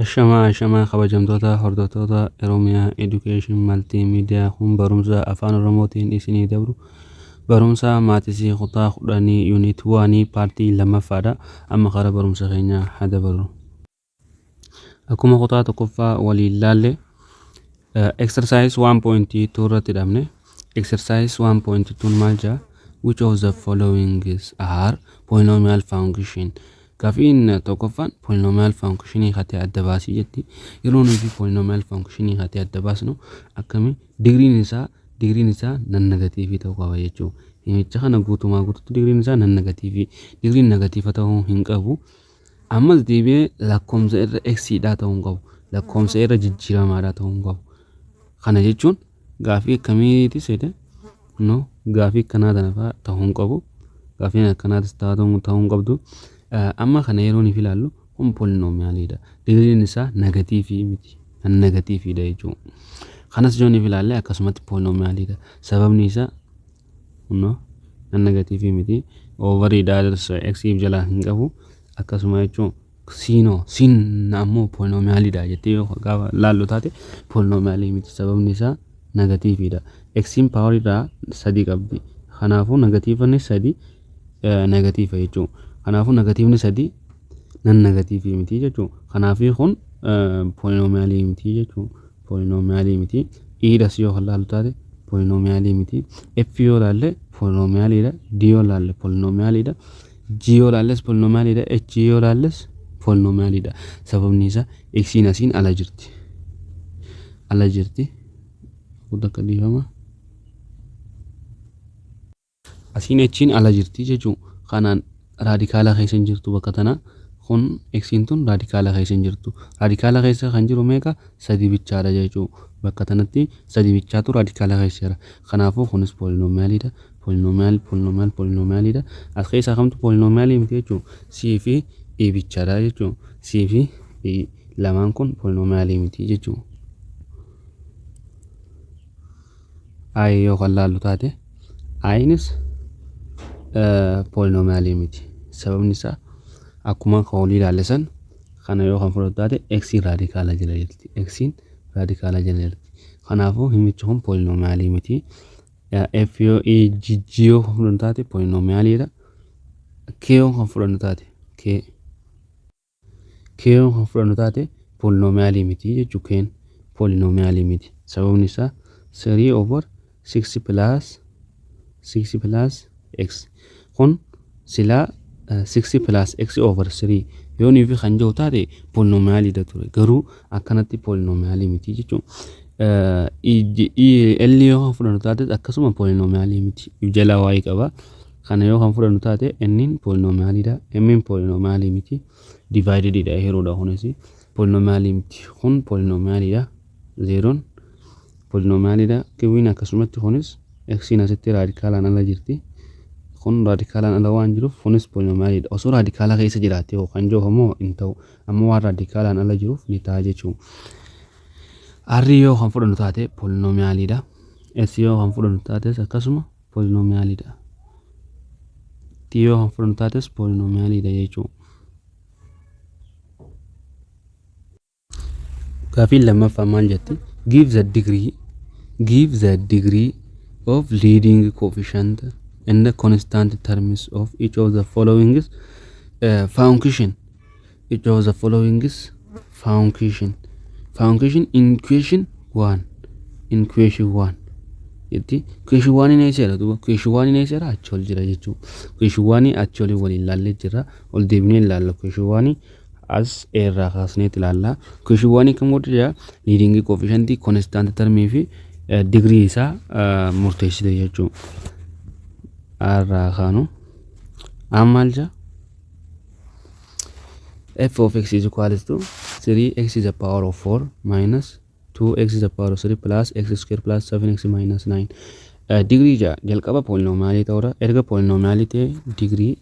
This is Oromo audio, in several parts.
Ashamaa ashamaa kabajamtoota hordoftoota Oromiyaa Education Multimedia kun barumsa afaan Oromootiin isinii dabru barumsa maatisii kutaa kudhanii yuunit waanii paartii lammaffaadha. Amma kara barumsa keenya haa dabarru. Akkuma kutaa tokkoffaa waliin laalle exercise 1.2 irratti dhabne exercise 1.2 maal jaa which of the following is are polynomial function gafiin tokkoffaan polynomial function hatee adda baasii jetti yeroo nuti polynomial function hatee adda baasnu akkami digriin isaa digriin isaa nan negatiivii ta'uu qaba jechuudha himicha kana guutumaa guututti digriin isaa nan negatiivii digriin negatiiva ta'uu hin qabu Ammas deebi'ee lakkoomsa irra x dhaa ta'uu hin qabu. Lakkoomsa irra jijjiiramaadhaa ta'uu hin qabu. Kana jechuun gaafii akkamiiti seete no gaafii akkanaa tana fa'aa ta'uu hin qabu. Gaafiin akkanaatis ta'uu ta'uu hin qabdu. Eh, Amma kana yeroo nuuf ilaallu kun polinomiyaaliidha. Digriin isaa negatiivii miti. Kan negatiiviidha jechuudha. Kanas yoo nuuf ilaalle akkasumatti polinomiyaaliidha. Sababni isaa Kunno an negatiivii miti oovarii daaders eksiif jalaa hin qabu akkasuma jechuun siinoo siin ammoo poolinoomiyaalidha jettee yoo gaafa laallu taate poolinoomiyaalii miti sababni isaa negatiiviidha eksiin paawariidhaa sadii qabdi kanaafuu negatiivanni sadii negatiiva jechuun kanaafuu negatiivni sadii nan negatiivii miti jechuu kanaafii kun poolinomiyaalii miti jechuu poolinomiyaalii miti iidhas yoo kan laalu taate poolinomiyaalii miti f yoo laalle poolinomiyaaliidha d yoo laalle poolinomiyaaliidha g yoo laalles poolinomiyaaliidha h yoo laalles poolinomiyaaliidha sababni isaa eksiin asiin ala jirti ala jirti guddaa akka dhiifama Asiin H'n ala jirti jechuu kanaan raadikaala keessa hin jirtu bakka tana kun X'n tun raadikaala keessa hin jirtu raadikaala keessa kan jiru meeqa sadii bichaadha jechuu bakka tanatti sadii bichaatu raadikaala keessa jira kanaafuu kunis poolinomiyaaliidha poolinomiyaal poolinomiyaal poolinomiyaaliidha as keessaa kamtu poolinomiyaalii miti jechuu C fi E bichaadha jechuu C fi E lamaan kun poolinomiyaalii miti jechuu i yoo kan laallu taate inis poolinomiyaalii miti sababni isaa akkuma kan olii ilaalle san kana yoo kan fudhatu taate eksiin raadikaala jala jirti eksiin raadikaala jala jirti kanaafuu himichi kun poolinomiyaalii miti f yoo e g g yoo kan fudhannu taate poolinomiyaaliidha k yoo kan fudhannu taate k Kn kan fudhannu taate poolinomiyaalii miti jechuu kn poolinomiyaalii miti sababni isaa 3 over 6 plus 6 plus x kun silaa 6 plus x over 3 yoo nuufi kan jiru taate poolinomiyaalii da ture garuu akkanatti poolinomiyaalii miti jechuun L yoo kan fudhannu taate akkasuma poolinomiyaalii miti jalaa waa'ee qaba. Kana yoo kan fudhannu taate n'n poolinomiyaalidha. M'n poolinomiyaalii miti. Divaayidididha hiruudha kunis. Poolinomiyaalii miti. Kun poolinomiyaalidha. Zeeroon poolinomiyaalidha. Kiwwiin akkasumatti kunis eksiin asitti raadikaalaan ala jirti. Kun raadikaalaan ala waan jiruuf kunis poolinomiyaalidha. Osoo raadikaala keessa jiraatee hoo kan jiru moo hin ta'u. Amma waan raadikaalaan ala jiruuf ni ta'a jechuun. R yoo kan fudhannu taate poolinomiyaalidha. S yoo kan fudhannu taates akkasuma poolinomiyaalii dha. T yoo kan fudhannu taates poolinomiyaalii dha jechuu. Gaafiin lammaffaa maal jetti? Give the degree give the degree of leading coefficient and the constant terms of each of the following uh, function Which of the following is function? Function in question 1. In question 1. Jetti question 1 hin eesseera duuba question 1 hin eesseera achi ol jira jechuu question 1 achi olii waliin ilaallee jirra ol deebinee ilaalla question 1 as eerraa kaasneet ilaalla question 1 kan godhu jira leading coefficient constant term fi degree isaa murteessite jechuu arraa kaanu ammaal jaa f of x is equals to 3x is the power of 4 minus 2x is the power of 3 plus x square plus 7x minus 9 Eh, digrii ja'a jalqaba poolinomiyaalii ta'uudha erga poolinomiyaalii ta'e digrii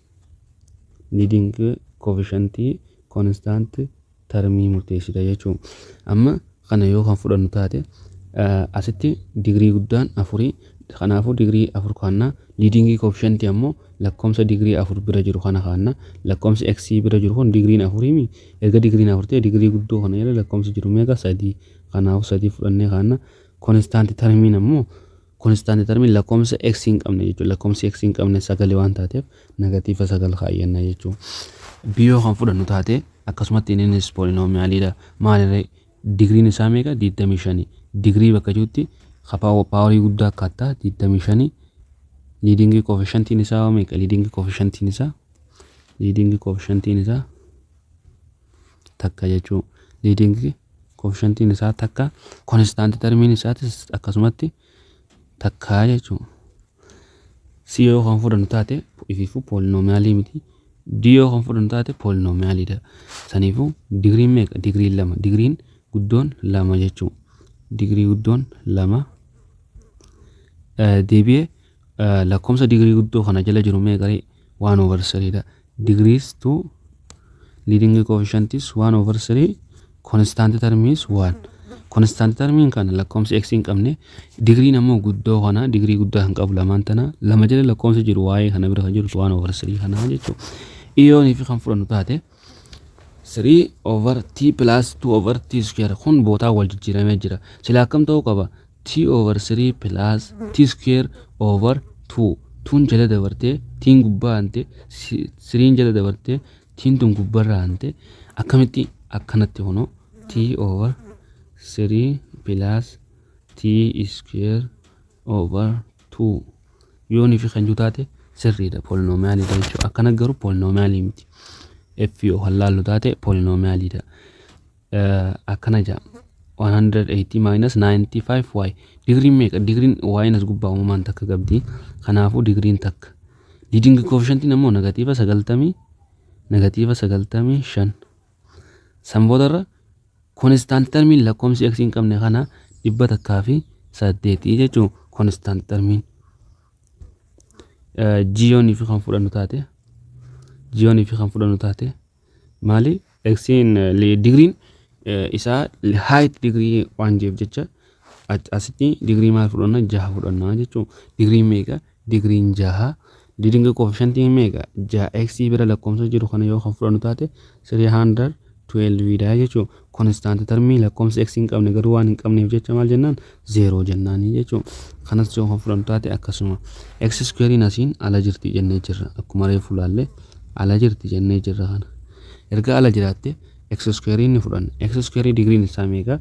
liiding koofishantii koonistaanti tarmii murteessita jechuun amma kana yoo kan fudhannu taate asitti digirii guddaan afurii kanaafuu digirii afur kaanna liidingii koofishantii ammoo lakkoomsa digirii afur bira jiru kana kaanna lakkoomsi x bira jiru kun digiriin afuriimi erga digiriin afur ta'e digirii guddoo kana irra lakkoomsi jiru meeqa sadii kanaafuu sadii fudhannee kaanna konistaanti tarmiin ammoo Konstant termiin lakkoomsa x hin qabne jechuudha. Lakkoomsi x hin qabne sagale waan taateef negatiiva sagal kaayyanna jechuudha. B yoo kan fudhannu taate akkasumatti innis poolinomiyaaliidha. Maalirree digriin isaa meeqa? 25. Digrii bakka jirutti paawarii guddaa akka ta'e 25 liidingii koofishantiin isaa meeqa? Liidingii koofishantiin isaa liidingii koofishantiin isaa takka jechuu liidingi koofishantiin isaa takka konistaanti tarmiin isaatis akkasumatti takkaa jechuu si yoo kan fudhannu taate ifiifuu poolinomiyaalii miti d yoo kan fudhannu taate poolinomiyaaliidha saniifuu digriin meeqa digriin lama digriin guddoon lama jechuu digrii guddoon lama deebi'ee Lakkoofsa digirii guddoo kana jala jiru meeqaree? 1 over 3 dha. Degrees to leading coefficient is 1 over 3 constant term is 1. Constant termiin kana lakkoofsa x hin qabne digriin ammoo guddoo kana digrii guddaa kan qabu lamaan tana lama jala lakkoofsa jiru waa'ee kana bira kan jiru 1 over 3 kana jechuudha. Iyoonii fi kan fudhannu taate 3 over t plus 2 over t square kun bootaa wal jijjiiramee jira sila akkam ta'uu qaba t over 3 plus t square over 2 tuun jala dabartee tiin gubbaa hante siriin jala dabartee tiin tun gubbarra hante akkamitti akkanatti kunoo t over 3 plus t square over tu yoonii fi kan jiru taate sirriidha poolinomiyaaliidha jechuudha akkana garuu poolinomiyaalii miti f yoo kan laallu taate poolinomiyaaliidha akkana jaa 180 minus 95 y digriin meeqa digriin y'n as gubbaa uumamaan takka qabdi kanaafuu digriin takka liidingi koofishantiin ammoo negatiiva 90 negatiiva 95 San boodarra konistaanti tarmiin lakkoomsi x hin qabne kana dhibba takkaa fi saddeetii jechuun konistaanti tarmiin jiyoonii fi kan fudhannu taate jiyoonii fi kan fudhannu taate maali eksiin digriin isaa haayit digrii waan jeef jecha asitti digrii maal fudhanna jaha fudhanna jechuun digrii meeqa Digriin 6 leading coefficient meeqa? 6x bira lakkoofsa jiru kana yoo kan fudhannu taate 312 dha jechuudha. Constant termii lakkoofsa x hin qabne garuu waan hin qabneef jecha maal jennaan 0 jennaanii jechuudha. Kanas yoo kan fudhannu taate akkasuma x square'n asiin ala jirti jennee jirra. Akkuma reefu laalle ala jirti jennee jirra kana. Erga ala jiraatte x square'n ni fudhanna. x square digriin isaa meeqa?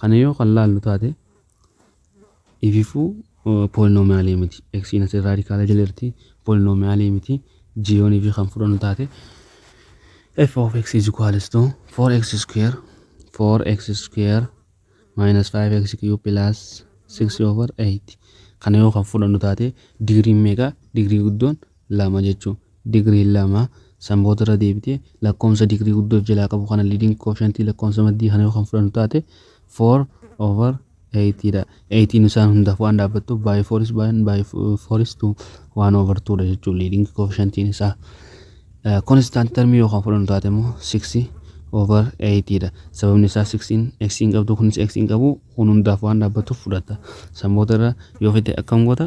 Kana yoo kan laallu taate ififuu poolinomiyaalii miti. Eksiin asii raadikaala jala jirti poolinomiyaalii miti. Jiyoon ifii kan fudhannu taate f of x is equals to 4x square 4x square minus 5x cube plus 6 over 8 kana yoo kan fudhannu taate digriin meeqa digrii guddoon 2 jechuun digriin 2 san booda irra deebitee lakkoomsa digrii guddoo of jalaa qabu kana liiding koofshantii lakkoomsa maddii kana yoo kan fudhannu taate 4 over 8 dha. 8 isaan hundaaf waan dhaabbattuuf baay'ee 4 is baay'een baay'ee 4 is 2 waan over 2 dha jechuun liiding koofshantiin isaa. Konstant termii yoo kan fudhannu taate immoo 6 over 8 dha. Sababni isaa 6n x hin qabdu kunis x hin qabu kun hundaaf waan dhaabbattuuf fudhata. San booda irra yoo fite akkam goota?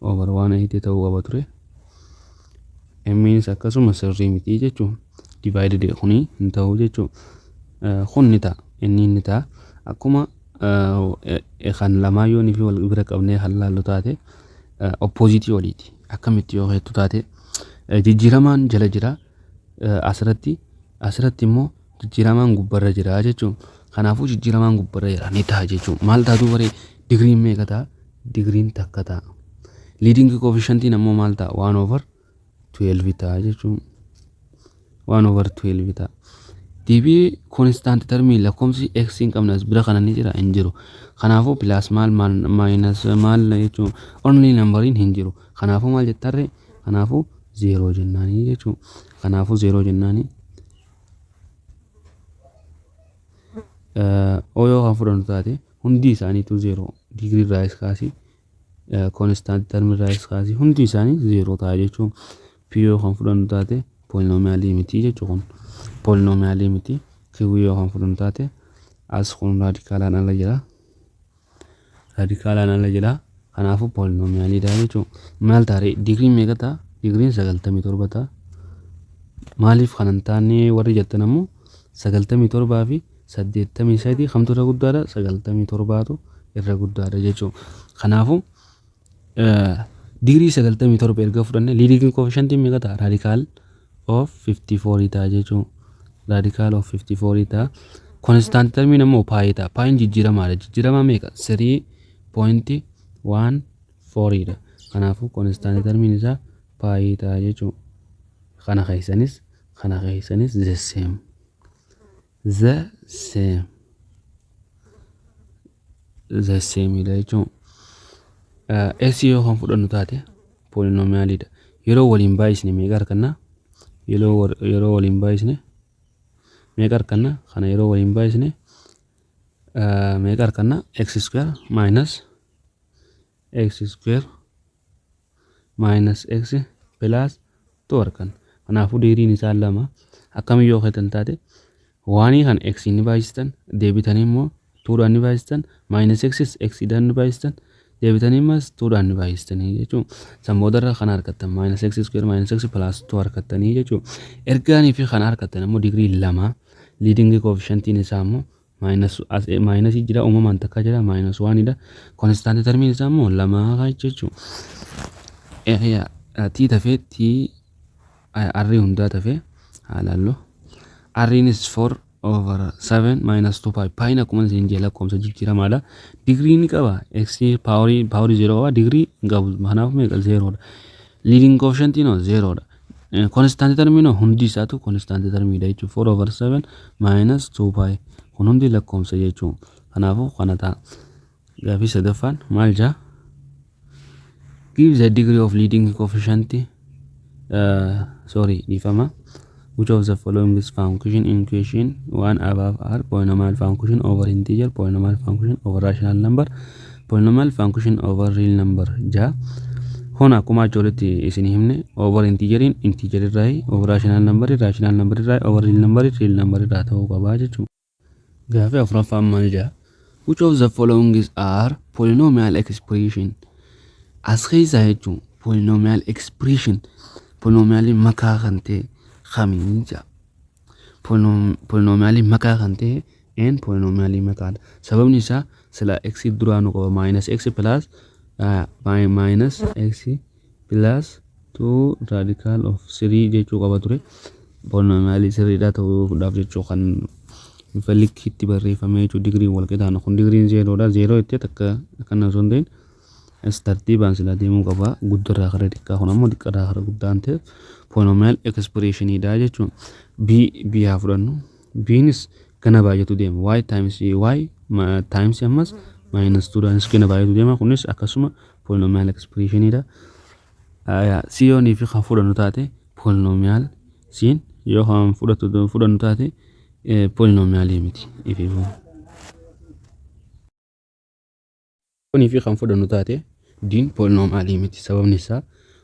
over 180 ta'uu qaba ture mmiinis akkasuma sirrii miti jechuun divided kuni hin ta'u jechuun kun ni ta'a inni ni ta'a akkuma kan lamaa yoo fi wal bira qabnee kan laallu taate oppozitii waliiti akkamitti yoo heettu taate jijjiiramaan jala jira asirratti asirratti immoo jijjiiramaan gubbarra jira jechuun kanaafuu jijjiiramaan gubbarra jira ni ta'a jechuun maal taatuu baree digriin meeqa ta'a digriin takka ta'a liidingi koofishantiin ammoo maal ta'a waan over 12 ta'a jechuun waan over 12 ta'a deebii koonistaanti tarmii lakkoomsi x hin qabne as bira kana ni jira hin jiru kanaafuu pilaas maal maal maayinas maal jechuun onlii nambariin hin jiru kanaafuu maal jettarre kanaafuu zeeroo jennaanii jechuun kanaafuu zeeroo jennaanii O yoo kan fudhannu taate hundi isaaniitu zeeroo digirii irraa is kaasii konistaanti tarmii irraa is kaasii hundi isaanii zeeroo ta'a jechuun P yoo kan fudhannu taate poolinomiyaalii miti jechuu kun poolinomiyaalii miti Q yoo kan fudhannu taate as kun raadikaalaan ala jira raadikaalaan ala jedha kanaafuu poolinomiyaaliidha jechuun maal taare digrii meeqa ta'a digriin sagaltamii torba ta'a maaliif kan hin taane warri jettan ammoo sagaltamii torbaa fi saddeettamii sadii kamtu irra guddaadha sagaltamii torbaatu irra guddaadha jechuun kanaafuu Digirii 97 erga fudhanne leading coefficient meeqa ta'a? Radical of 54 ta'a jechuun radical of 54 ta'a. Constant term immoo paayii ta'a. Paayiin jijjiiramaadha. Jijjiiramaa meeqa? 3.14 dha. Kanaafuu constant term isaa paayii ta'a jechuun kana keessanis kana keessanis the same. The same. the same dha jechuun s yoo kan fudhannu taate poolinomiyaalii dha yeroo waliin baay'isne meeqa arganna yeroo wal- yeroo waliin baay'isne meeqa arganna kana yeroo waliin baay'isne eh, meeqa arganna x square minus x square minus x plus 2 arkan kanaafuu deeriin isaa lama akkamiin yoo keetan taate waanii kan x ni baay'istan deebitanii immoo 2 dhaan ni baay'istan minus x x dhaan ni baay'istan deebitanii immoo 2 dhaan ni baay'istanii jechuun san boodarra kan argattan minus x square minus x plus 2 argattanii jechuun ergaanii fi kan argattan immoo digirii lama liidingii koofishantiin isaa immoo Minus as a minus jira uumamaan takka jira minus one dha. Constant termiin isaa immoo lama haa jechuun. Area t tafee t r hundaa tafee haa laallu. Rnis 4 over 7 minus 2 pi piin akkuma isin jee lakkoofsa jijjiiramaadha. Digrii ni qaba x paaworii paaworii 0 qaba digrii hin qabu kanaaf meeqa 0 dha. Leading coefficient noo 0 dha. Konistaantii tarmiin hundi isaatu konistaantii tarmiidha jechuun 4 over 7 minus 2 pi kun hundi lakkoomsa jechuun kanaafuu kana ta'a. Gaafii sadaffaan maal jaa? Give the degree of leading coefficient uh, sorry dhiifama which of the following is function in question one above r polynomial function over integer polynomial function over rational number Polynomial function over real number 6 Kun akkuma achi olitti isin himne over intiijeriin intiijerii irraa over rational number rational number irraa over real number real number irraa ta'uu qaba jechuudha. Gaafii afuraffaan maal jedha? Which of the following is are polynomial expression? As keessaa jechuun polynomial expression polynomial makaa kan ta'e kamiin jedha? polinomiyaalii makaa kan ta'e n polinomiyaalii makaadha. Sababni isaa sila x duraanuu qaba minus x plus minus x plus 2 radical of 3 jechuu qaba ture. Polinomiyaalii sirriidhaa ta'uudhaaf jechuu kan bifa likkiitti barreeffamee jechuu digriin wal qixaana kun digriin zeeroodha zeeroo itti takka akkana osoo hin ta'in As tartiibaan silaa deemuu qaba. Guddarraa gara xiqqaa kun ammoo xiqqarraa gara guddaan ta'e polynomial expression dha jechuun b b haa fudhannu. Bnis gana baay'atu deema. y times y ma- times ammas minus 2 dhaanis gana baay'atu deema. Kunis akkasuma polynomial expression dha. Aya, si yoo niifi kan fudhannu taate polynomial siin yoo kan fudhatu fudhannu taate eh, polynomial miti. Ifiifuu. Kun fi kan fudhannu taate D'n poolinomaalii miti. Sababni isaa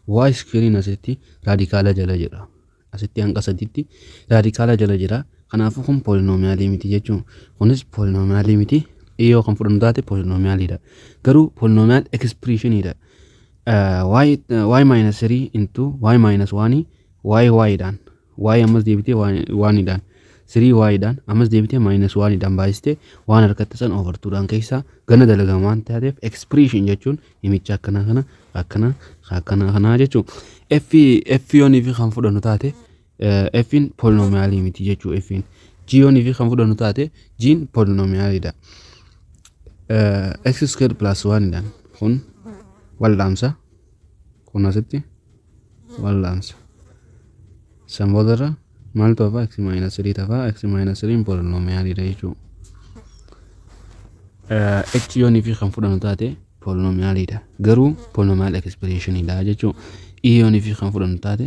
Y iskeeriin asitti raadikaala jala jira. Asitti hanqa sadiitti raadikaala jala jira. Kanaafuu kun poolinomaalii miti jechuun kunis poolinomaalii miti. E yoo kan fudhannu taate poolinomaaliidha. Garuu poolinomaal ekspiriishiniidha. Y minus 3 into Y minus 1 Y Y dhaan y ammas deebitee waanidhaan 3y dhaan ammas deebitee maayinas waanidhaan baay'istee waan argatte san over 2 dhaan keessaa gana dalagama waan taateef expression jechuun himicha akkana kana akkana akkana kanaa jechuu f f yoonii fi kan fudhannu taate f in polinomiyaalii miti jechuu f in g yoonii fi kan fudhannu taate g in polinomiyaalidha x square plus 1 dhaan kun waldhaamsa kun asitti wal'aansa san boodarra maaltu hafaa x maayinasi 3 tafaa x maayinasi 3 poolinomiyaaliidha jechuudha h yoonii fi kan fudhannu taate poolinomiyaaliidha garuu poolinomiyaal ekspreeshiniidha jechuudha i yoonii fi kan fudhannu taate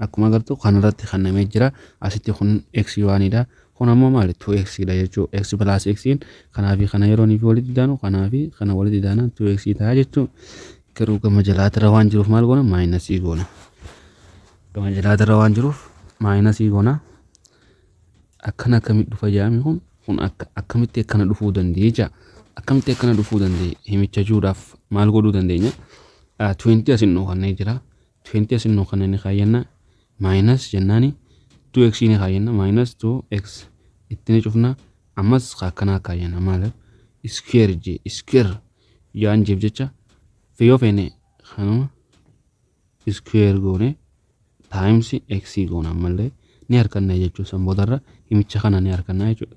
Akkuma agartu kanarratti kennamee jira. Asitti kun x waanidha. Kun ammoo maali? 2x dha jechuu. x plus x in kanaa fi kana yeroo fi walitti daanu kanaa fi kana walitti daanaan 2x ta'a jechuu. Garuu gama jalaatirra waan jiruuf maal goona? Maayinasii goona. Gama jalaatirra waan jiruuf maayinasii goona. Akkana akkamitti dhufa jedhame kun kun akka akkamitti akkana dhufuu danda'e jecha. Akkamitti akkana dhufuu danda'e himicha jechuudhaaf maal godhuu dandeenya? 20 asin dhokannee jira. 20 as innoo kana ni kaayyanna minus jennaani 2x ni kaayyanna minus 2x itti ni cufna ammas ka akkanaa kaayyanna maal square j square jaan jeef jecha yoo feene kanuma square goone times x goona ammallee ni harkanna jechuun san boodarra himicha kana ni harkanna jechuudha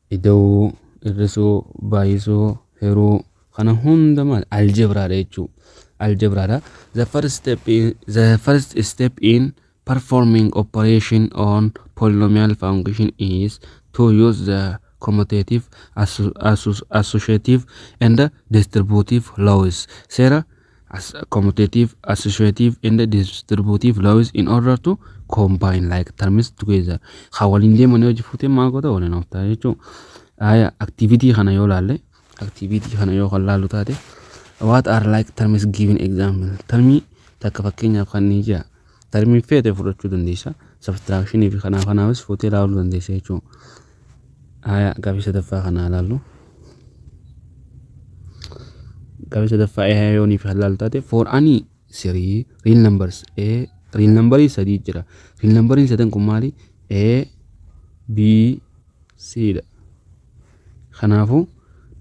Ida'uu, hir'isuu, baay'isuu, hiruu kana hunda maal algebra dha jechuu algebra dha the first step in, the first step in performing operation on polynomial function is to use the commutative asso- asso- associative and distributive laws seera as commutative, associative and distributive laws in order to combine like terms together. Haa waliin deeman yoo jifuutee maal goota waliin ooftaa jechuun aayaa activity kana yoo laalle activity kana yoo kan laallu taate what are like terms given example termii takka fakkeenyaaf kan ni jira Tarmiin feete fudhachuu dandeessa. Sabtiraakshinii fi kanaaf kanaafis fuutee ilaaluu dandeessa jechuudha. Haya gaaffii sadaffaa kana ilaallu. Gaaffii sadaffaa A yoonii fi halal taate for any three real numbers A real numberii sadii jira. Real numberiin sadan kun maali? A B C dha. Kanaafu,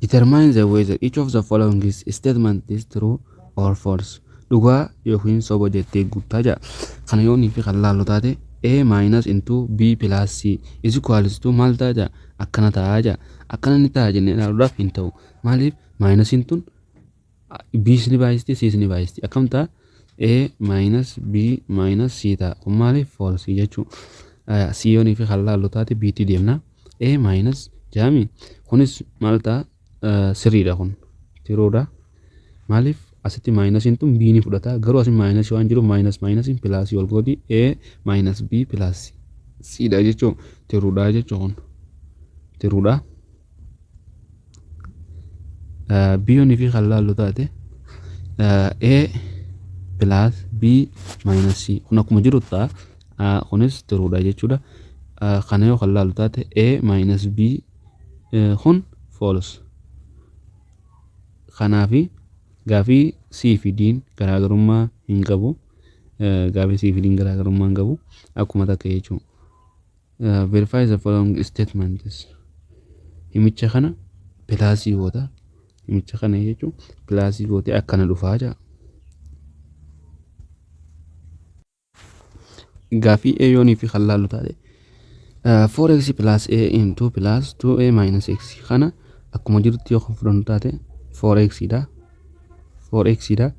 determine the whether each of the following is statement is true or false. Dhugaa yookiin soba jettee guuttaa ja'a. Kana yoo inni fi kan laallu taate A minus into B plus C is equals to maal ta'a ja'a? Akkana ta'a ja'a. Akkana ni ta'a jennee ilaaluudhaaf hin ta'u. Maaliif? Minus intuun B's ni baay'isti, C's ni baay'isti. Akkam ta'a? A minus B minus C ta'a. Kun maaliif false jechuu? Aya, C yoonii fi kan laallu taate B tti deemna. A minus jaami. Kunis maal ta'a? Eh, Sirriidha kun. Tiruudha. Maaliif asitti maayinasiin tun B ni fudhata. Garuu asiin maayinasii waan jiruuf maayinas maayinasiin pilaasii wal gooti. A minus B plus C dha jechuu. Tiruudha jechuu kun. Tiruudha. biyyoon fi kan laallu taate a plus b minus c kun akkuma jiru ta'a Ah, kunis tiruudha jechuudha Ah, kana yoo kan laallu taate a minus b eh, kun false kanaafi gaafii C fi D'n garaagarummaa hin qabu. Eh, Gaafii C fi D'n garaagarummaa hin qabu. Akkuma takka jechuudha. Verify the following statements. Himicha kana pilaasii goota. Himicha kana jechuun pilaasii gootee akkana dhufaa jira. Gaafii A yoonii fi kan laallu taate 4x plus A into plus 2A minus x kana akkuma jirutti yoo kan fudhannu taate 4x dha. 4x dha.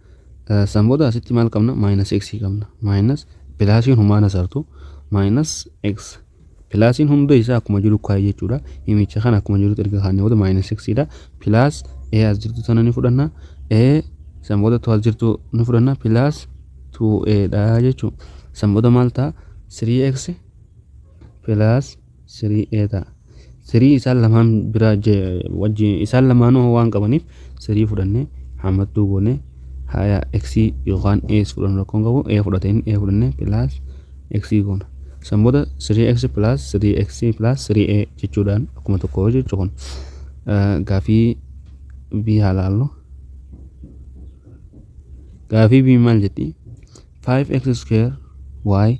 San booda asitti maal qabna? Maayinas x qabna. Maayinas pilaasiin humaan asartu maayinas x. Pilaasiin hunda isaa akkuma jiru kaa'e jechuudha. Himicha kana akkuma jirutti erga kaa'annee booda maayinas x dha. Pilaas a as jirtu tana ni fudhanna. a san booda tu as jirtu ni fudhanna. Pilaas 2a dha jechuudha. San booda maal ta'a? 3x pilaas Sirii ee ta'a. Sirii isaan lamaan bira wajji isaan lamaanuu waan qabaniif sirii fudhannee hammattuu goonee haya x yookaan ees fudhannu rakkoon qabu ee fudhate inni ee fudhannee pilaas x goona. San booda sirii x pilaas sirii x pilaas sirii ee jechuudhaan akkuma tokko jechuu kun gaafii bii haa laallu. Gaafii bii maal jetti? 5x square y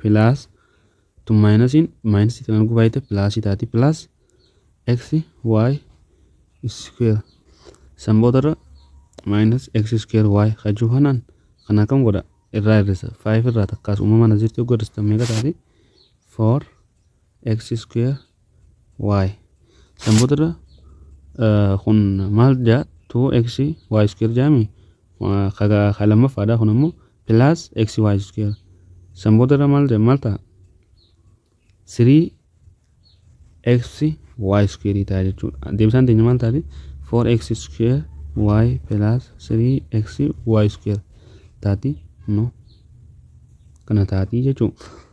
plus tun maayinasiin maayinasii tana arguu baay'ate pilaasii taati plus x y square san boodarra minus x square y kan jiru kanaan kan akkam godha irraa hir'isa 5 irraa takkaas uumamaan as jirti yoo hir'istan meeqa taati 4 x square y san boodarra kun maal jaa 2x y square jaami ka lammaffaadha kun ammoo plus x y square san boodarra maal jaa maal ta'a 3x y square ta'a jechuudha deebisaan teenya maal taati 4x square y plus 3x y square taati no kana taati jechuudha.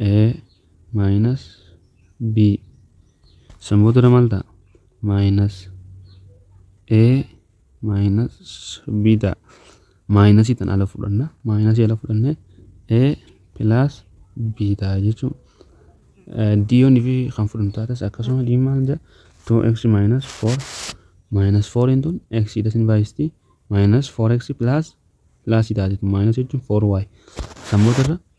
A minus B san boodarra maal ta'a minus A minus B ta'a minus tan ala fudhanna minus ala fudhanne A plus B ta'a jechuun D yoon fi kan fudhannu taates akkasuma D maal jedha 2x minus 4 minus 4 into x idha sin baay'isti minus 4x plus plus idha jechuun minus jechuun 4y san boodarra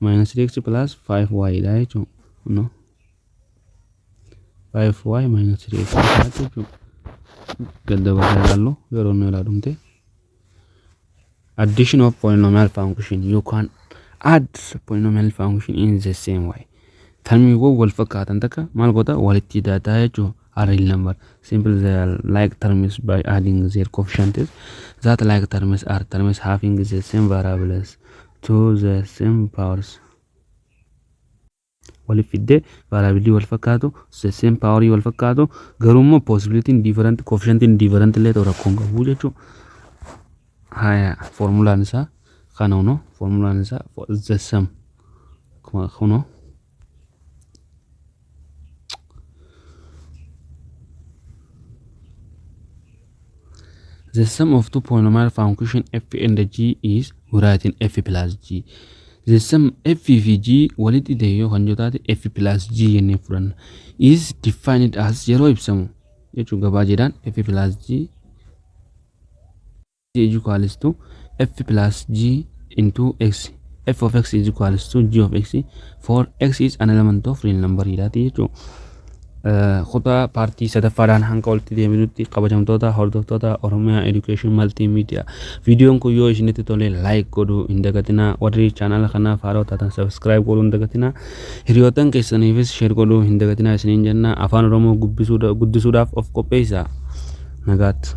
minus 3x plus 5y dha jechuun no 5y minus 3x jechuun gadda baasa ilaallu yeroo nu ilaa dhumte addition of polynomial function you can add polynomial function in the same way tarmiiwwan wal fakkaatan takka maal goota walitti daataa jechuun array number simple the like terms by adding their coefficients that like terms are terms having the same variables to the same powers waliif fiddee variability wal fakkaatu the same power wal fakkaatu garuu immoo possibility different coefficient different illee ta'u rakkoon qabu jechuu haya formulaan isaa kana huno formulaan isaa the same kuno The sum of two polynomial function f and g is writing f plus g. The sum f fi g walitti ta'e yoo kan jotaate f plus g jennee fudhanna. Is defined as yeroo ibsamu jechuun gabaa jedhaan f plus g G is equals to F plus G into X. F of X is equals to G of X for X is an element of real number jedhaati jechuudha. Kutaa paartii sadaffaadhaan hanga walitti deebinutti kabajamtoota hordoftoota Oromiyaa Education Multimedia. Viidiyoon kun yoo isinitti tole like godhuu hin dagatinaa. Warri chaanala kanaaf haaraa taatan subscribe godhuu hin dagatinaa. Hiriyoottan keessaniifis share godhuu hin dagatinaa isiniin jenna. Afaan Oromoo gubbisuudha- guddisuudhaaf of qopheessaa. Nagaatti.